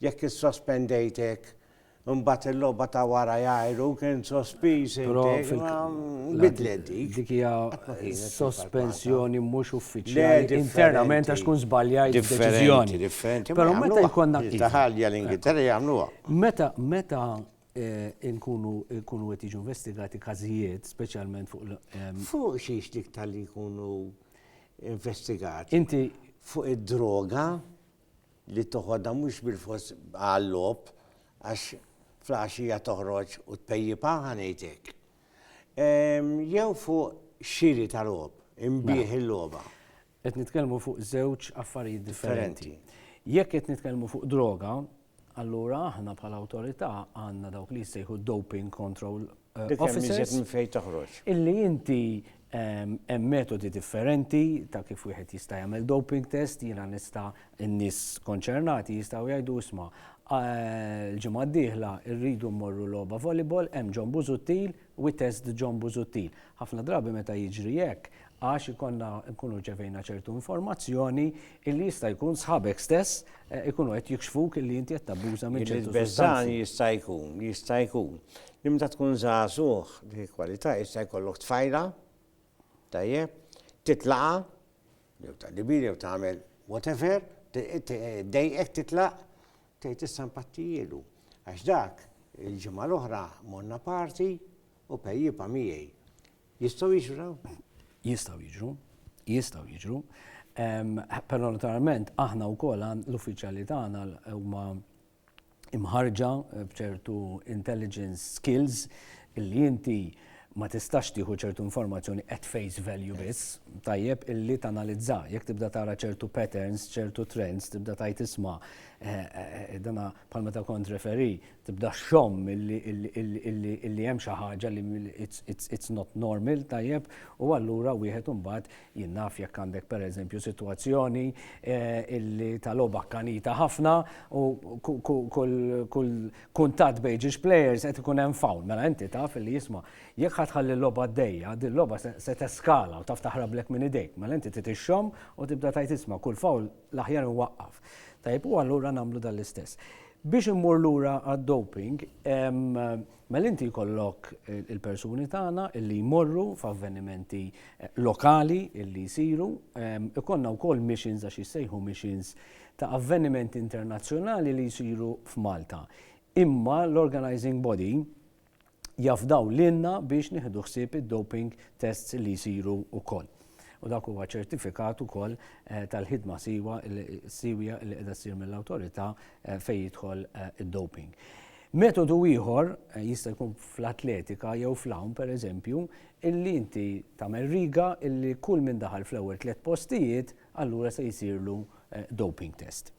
jekk issospendejtek Imbagħad il-logħba ta' wara jgħajru kien sospiż intek ma bidlet dik. Dik hija
sospensjoni mhux uffiċjali internament għax tkun żbaljajt deċiżjoni. Differenti, Però meta
jkollna
taħalja l-Ingilterra
jagħmluha. Meta meta
nkunu nkunu qed jiġu investigati każijiet, speċjalment fuq Fuq
xiex dik tal-li jkunu investigati? Inti
fuq id-droga?
li toħodha mhux bilfors għal-logħob għax fl-għaxija toħroġ u tpejjipha, ħa ngħid hekk, jew fuq xiri ta' logħob, inbigħ il-logħba. Qed nitkellmu
fuq żewġ affarijiet differenti. Jekk qed nitkellmu fuq droga, allura aħna bħala awtorità għandna dawk li jissejħu doping control offices,
illi inti
hemm metodi differenti ta' kif wieħed jista' jagħmel doping test, jiena nista' n-nies konċernati jistgħu jgħidu isma' l-ġimgħa d-dieħla rridu mmorru logħba volleyball, hemm John Busuttil, we test John Busuttil. Ħafna drabi meta jiġri hekk, għax ikollna nkunu rċevejna ċertu informazzjoni illi jista' jkun sħabek stess eh, ikunu qed jikxfuk illi inti qed tabbuża minn ċertu sustanzi. jista'
jkun, jista' jkun. Li meta tkun żagħżugħ dik kwalità jista' jkollok tfajla, tajjeb, titlaqa, jew ta' dibir jew tagħmel whatever, dejqek titlaq, tgħid issa mpattijielu. Għax dak il-ġimgħa l-oħra monna parti u pejjipa miegħi Jistgħu jiġru dawn? Jistgħu jiġru,
jistgħu jiġru. Però naturalment aħna wkoll l-uffiċjali tagħna huma imħarġa b'ċertu intelligence skills illi inti ma tistax tieħu ċertu informazzjoni at face value biss, tajjeb illi tanalizza, jekk tibda tara ċertu patterns, ċertu trends, tibda tajt isma, eh, eh, eh, dana bħal meta kont referi, tibda xxomm illi hemm xi ħaġa li it's not normal, tajjeb, u allura wieħed imbagħad jien naf jekk għandek pereżempju sitwazzjoni illi ta' logħba kkanita ħafna u kull kuntatt bejn ġiex players qed ikun hemm foul, mela inti taf illi isma' jekk ħa tħalli l-logħba għaddejja, din logħba se teskala u taf taħrablek minn idejk, mela inti trid ixxomm u tibda tgħid isma' kull foul l-aħjar inwaqqaf. Tajjeb, u allura nagħmlu dan l-istess. Biex immur lura għad-doping, mela inti jkollok il-persuni tagħna li jmorru f'avvenimenti lokali li jsiru, ikollna wkoll missions għax jissejħu missions ta' avvenimenti internazzjonali li jsiru f'Malta. Imma l-organizing body jafdaw lilna biex nieħdu ħsieb id-doping tests li jsiru wkoll. U dak huwa ċertifikat ukoll eh, tal-ħidma siwa siwja li qiegħda ssir mill-awtorità eh, fejn jidħol eh, id-doping. Metodu ieħor jista' jkun fl-atletika jew fl-hawn pereżempju, illi inti tagħmel riga illi kull minn daħal fl-ewwel tliet postijiet allura se jsirlu doping test.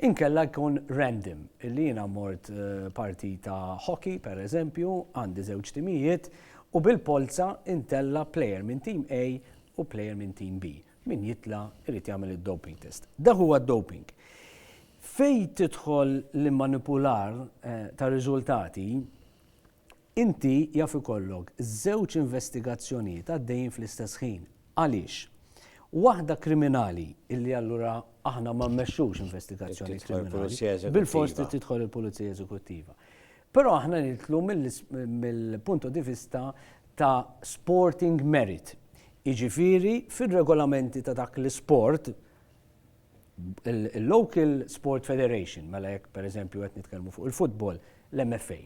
Inkella jkun random, illi jiena mort partita hockey, per eżempju, għandi żewġ timijiet, u bil-polza intella' player minn tim A u player minn tim B. Min jitla' irid jagħmel id-doping test. Dak huwa d-doping. Fejn tidħol l-immanipular tar-riżultati Inti jaf ikollok żewġ investigazzjonijiet għaddejjin fl-istess ħin. Għaliex? Waħda kriminali, illi allura aħna ma mmexxux investigazzjoni kriminali, bilfors trid tidħol il-Pulizija Eżekuttiva. Però aħna nidħlu mill-punto di vista ta' sporting merit. Jiġifieri fir-regolamenti ta' dak l-isport, il-local sport federation, mela jekk per eżempju qed nitkellmu fuq il-futbol, l-MFA,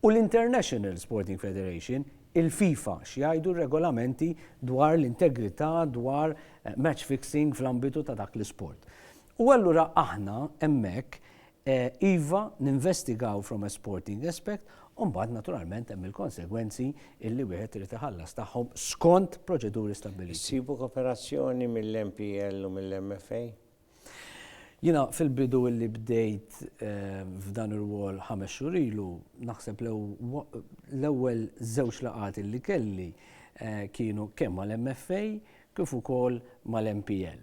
u l-International Sporting Federation, il-FIFA, x'jgħidu r-regolamenti dwar l-integrità dwar eh, match fixing fl-ambitu ta' dak l-isport. U allura aħna hemmhekk Iva, ninvestigaw from a sporting aspect u mbagħad naturalment hemm il-konsegwenzi illi wieħed irid iħallas tagħhom skont proċeduri stabbiliti. Issibu koperazzjoni mill-MPL u mill-MFA? Jiena fil-bidu illi bdejt f'dan ir-rwol ħames xhur ilu, naħseb l-ewwel żewġ laqgħat illi kelli kienu kemm mal-MFA kif ukoll mal-MPL.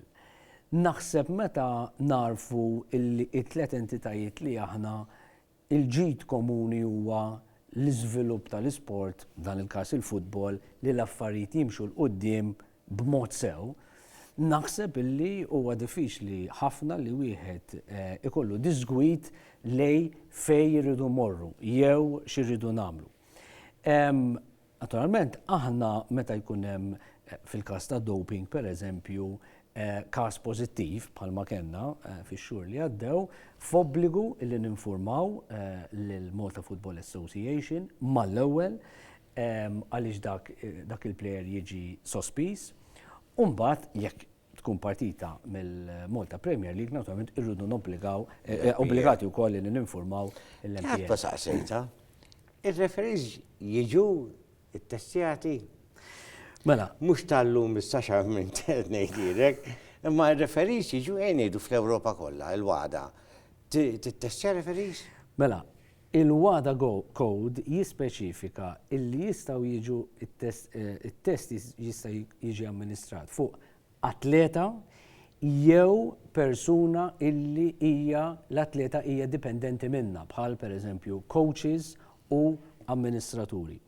Naħseb meta nagħrfu illi t-tliet entitajiet li aħna l-ġid komuni huwa l-iżvilupp tal-isport, f'dan il-każ il-futbol, li l-affarijiet jimxu 'l quddiem b'mod sew, naħseb illi huwa diffiċli ħafna li wieħed ikollu diżgwid lejn fejn irridu mmorru jew xi rridu nagħmlu. Naturalment, aħna meta jkun hemm fil-każ ta' doping, pereżempju, każ pożittiv bħalma kellna fix-xhur li għaddew, f'obbligu li ninfurmaw lill-Malta Football Association mal-ewwel għaliex dak il-plejer jiġi sospiż u mbagħad jekk tkun partita mill-Malta Premier League, naturalment irridu nobbligaw, eh, eh, obbligati wkoll li ninformaw l-MPL. Ta' saqsejta,
ir-referees jiġu it-testjati. Mela. Mhux tal-lum issa xa minn ngħidilek, imma r-referees jiġu għenidu fl-Ewropa kollha, il-wada. Tittestja referees? Mela,
Il-WADA Code jispeċifika li jistgħu jiġu it-test jista' jiġi amministrat fuq atleta jew persuna li hija l-atleta hija dipendenti minnha bħal, pereżempju, kowċis u amministraturi.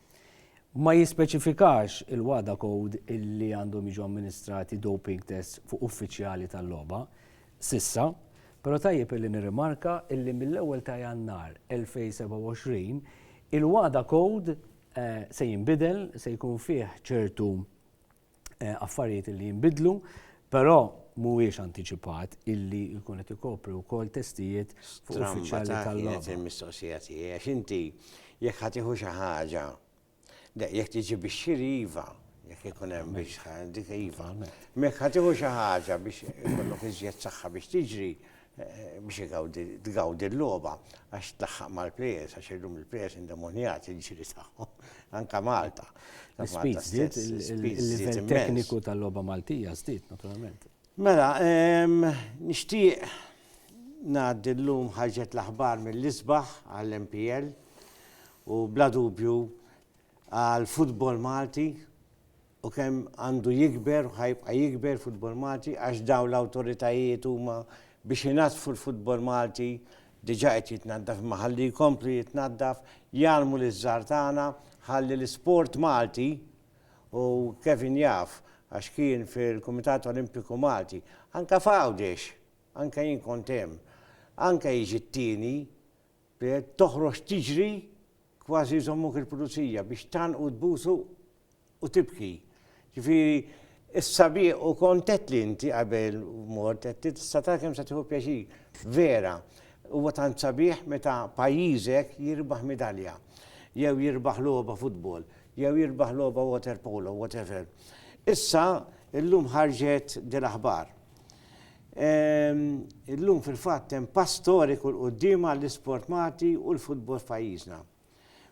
Ma jispeċifikax il-WADA Code li għandhom jiġu amministrati doping tests fuq uffiċjali tal-logħba, s'issa, però tajjeb illi nirrimarka illi mill-ewwel ta' Jannar 2027 il-WADA Code se jinbidel, se jkun fih ċertu affarijiet illi jinbidlu, però mhuwiex antiċipat illi jkun qed ikopri wkoll testijiet fuq uffiċjali tal-logħba. Stramba ta' kienet il-mistoqsija tiegħi għax
inti jekk ħa tieħu xi ħaġa Le, jekk tiġi biex xiri iva, jekk ikun hemm biex dik iva. Mek ħatiħu xi ħaġa biex ikollok iżjed saħħa biex tiġri eh, biex tgawdi l-logħba għax tlaħħaq mal-plejers għax illum il-plejers indemonjat il-ġiri tagħhom anka Malta. Speed żdied
il-livell tekniku tal-logħba Maltija żdied naturalment. Mela,
nixtieq ngħaddi llum ħarġet l-aħbar mill-isbaħ għall-MPL u bla dubju għall-futbol Malti u kemm għandu jikber u ħajbqa' jikber futbol Malti għax dawn l-awtoritajiet huma biex inaddfu l-futbol Malti diġà qed jitnaddaf imma ħalli jkomplu jitnaddaf, jgħallmu liż-żgħar tagħna ħalli l-isport Malti u Kevin jaf għax kien fil-Kumitat Olimpiku Malti, anke f'Għawdex, anke jien kont hemm, anke jiġi t-tieni, b'hekk toħroġ tiġri kważi jżommuk il-Pulizija biex tgħannqu tbusu u tibki. Ġifieri s-sabiħ u kont għedtli inti qabel mort għedtli tista' tara kemm se tieħu pjaċir. Vera, huwa tant sabiħ meta pajjiżek jirbaħ midalja jew jirbaħ logħba futbol. jew jirbaħ logħba water polo, whatever. Issa, illum ħarġet din aħbar. Ehm, illum fil-fatt hemm pass storiku l-qudiem għall-isport Malti u l-futbol f'pajjiżna.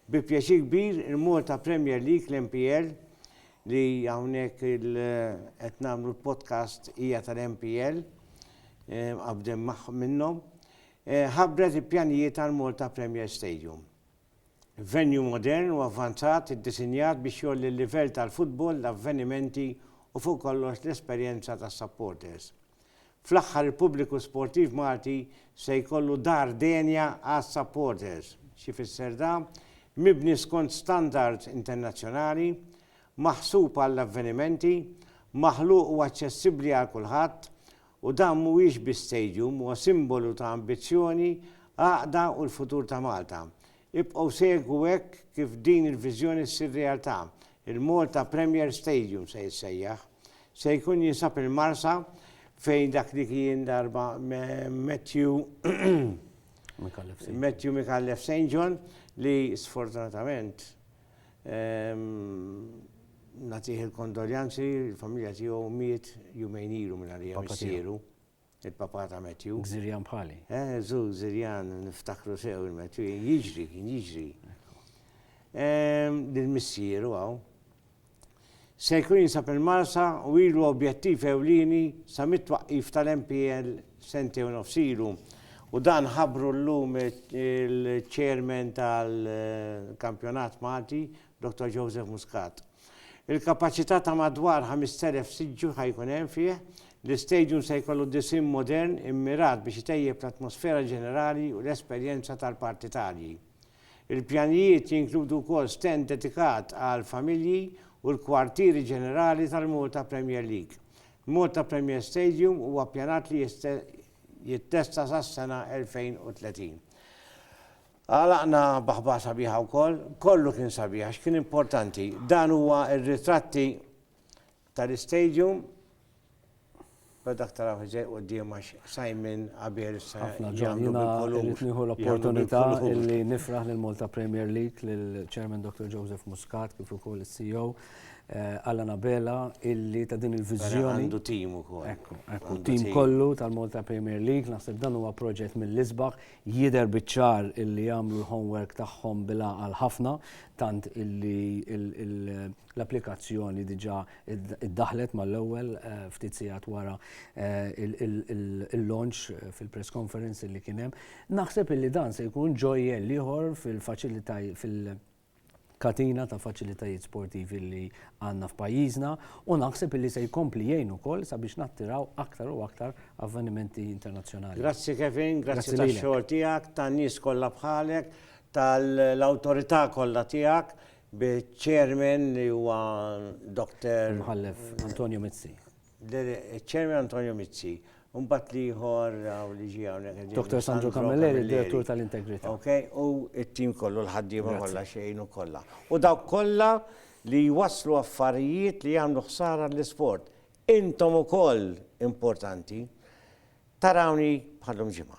Bi pjaċir kbir il-Malta Premier League l-MPL li hawnhekk qed nagħmlu l-podcast hija tal-MPL ehm, qabdem minnhom eh, ħabbret il-pjanijiet tal-Malta Premier Stadium. Venue modern u avvanzat iddisinjat biex jgħolli l-livell tal-futbol, l-avvenimenti u fuq kollox l-esperjenza tas-supporters. Fl-aħħar il-pubbliku sportiv Malti se jkollu dar denja għas-supporters. X'ifisser da? Mibni skont standards internazzjonali, maħsub għall-avvenimenti, maħluq u aċċessibbli għal kulħadd, U dan mhuwiex biss stadium, huwa simbolu ta' ambizzjoni, għaqda u l-futur ta' Malta. Ibqgħu segwu hekk kif din il-viżjoni ssir realtà, il-Malta Premier Stadium se jissejjaħ. Se jkun jinsab il-Marsa fejn dak li kien darba Matthew Micallef St. John li sfortunatament, Nagħtih il-kondoljanzi, il-familja tiegħu miet jumejn ilu mingħajr li hemm missieru, il-papa ta' Matthew. Gżirjan bħali. Eh,
żu Gżirjan
niftakru sew il-Matthew, jiġri, kien jiġri. Lill-missieru hawn. Se jkun jinsab il-Marsa u ilu objettiv ewlieni sa mit-twaqqif tal-MPL sentejn u nofs ilu u dan ħabbru llum il-Chairman tal-Kampjonat Malti, Dottor Joseph Muscat. Il-kapaċità ta' madwar 5,000 siġġu ħa jkun hemm fih, l-istadium se jkollu disinn modern immirat biex itejjeb l-atmosfera ġenerali u l-esperjenza tal-partitarji. Il-pjanijiet jinkludu wkoll stand dedikat għall-familji u l-kwartieri ġenerali tal-Malta Premier League. Malta Premier Stadium huwa ppjanat li jittesta sas-sena 2030. Għalaqna b'aħbar sabiħa wkoll. Kollu kien sabiħ għax kien importanti. Dan huwa r-ritratti Tar Stadium, bla dak taraw ħżejq quddiem għax Simon Għabier issa Ħafna ġon, jiena
rrid nieħu l-opportunità li nifraħ lil Malta Premier League lil Chairman Dr. Joseph Muscat kif ukoll is-CEO eh, Allan Abela illi ta' din il-viżjoni. Għandu tim ukoll.
Ekku, ekku, tim
kollu tal-Malta Premier League, naħseb dan huwa proġett mill-isbaħ, Jidher biċ-ċar illi għamlu l-homework tagħhom bil-għaqal ħafna, tant illi l-applikazzjoni diġà ddaħħlet mal-ewwel ftit sigħat wara l-launch fil-press conference illi kien hemm. Naħseb illi dan se jkun ġojjell ieħor fil-faċilitajiet, katina ta' faċilitajiet sportivi li għandna f'pajjiżna u naħseb li se jkompli jgħin ukoll sabiex nattiraw aktar u aktar avvenimenti internazzjonali. Grazzi Kevin,
grazzi tax-xogħol tiegħek, tan-nies kollha bħalek, tal-awtorità kollha tiegħek, biċ-Chairman li huwa Dottor. Imħallef Antonio
Mizzi. Chairman
Antonio Mizzi, mbagħad l-ieħor hawn li ġie hawnhekk. Dr. Sandro Camilleri,
Direttur tal-Integrità. Ok, u
t-tim kollu l-ħaddiema kollha xejn u kollha. U dawk kollha li jwasslu affarijiet li jagħmlu ħsara l-isport. Intom ukoll importanti. Tarawni bħal lum ġimgħa.